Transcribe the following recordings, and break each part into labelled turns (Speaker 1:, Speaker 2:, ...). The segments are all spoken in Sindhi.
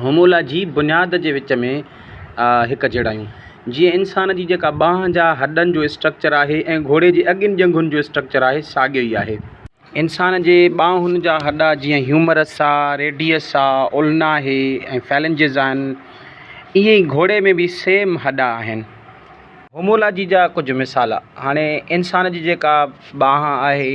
Speaker 1: هومولاجي، بنياد جي وچ ۾ هڪ جهڙايون، جيئن انسان جي جيڪا ٻانهن جا هڏن جو اسٽرڪچر آهي ۽ گهوڙي جي اڳين ڄنگهن جو اسٽرڪچر آهي، ساڳيو ئي آهي. انسان جي ٻانهن جا هڏا جيئن هيومرس آ، ريڊيس آ، اولنا آهي ۽ فيلنجز آهن، ائين ئي گهوڙي ۾ به سيم هڏا آهن. هومولاجي جا ڪجهه مثال، هاڻي انسان جي جيڪا ٻانهن آهي،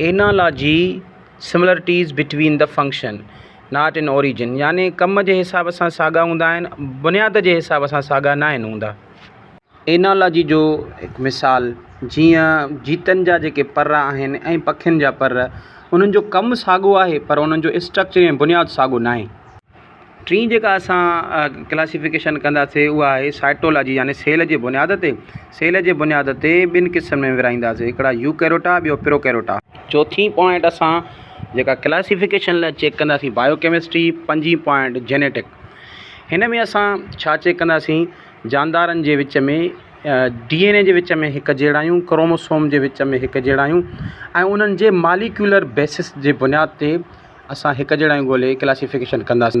Speaker 1: Analogy, Similarities between the function, not in origin يعني ڪم جي حساب سان ساڳا هوندا آهن، بنياد جي حساب سان ساڳا ناهن هوندا. Analogy جو هڪ مثال، جيئن جيتن جا جيڪي پر آهن ۽ پکين جا پر، انهن جو ڪم ساڳو آهي پر انهن جو اسٽرڪچر يعني بنياد ساڳو ناهي. ٽين جيڪا اسان ڪلاسيفڪيشن ڪنداسي اها آهي سائٽولاجي يعني سيل جي بنياد تي سيل جي بنياد تي ٻن قسمن ۾ ورهائينداسي هڪڙا يوڪيروٽا ٻيو پروڪيروٽا. چوٿين پوائنٽ اسان جيڪا ڪلاسيفڪيشن لاء چيڪ ڪنداسي بايو ڪيمسٽري پنجين پوائنٽ جينيٽڪ هن ۾ اسان ڇا چيڪ ڪنداسي جاندارن جي وچ ۾ ڊي اين اي جي وچ ۾ هڪ جهڙايون ڪروموسوم جي وچ ۾ هڪ جهڙايون ۽ انهن جي ماليڪيولر بيسس جي بنياد تي اسان هڪ جهڙايون ڳولهي ڪلاسيفڪيشن ڪنداسي.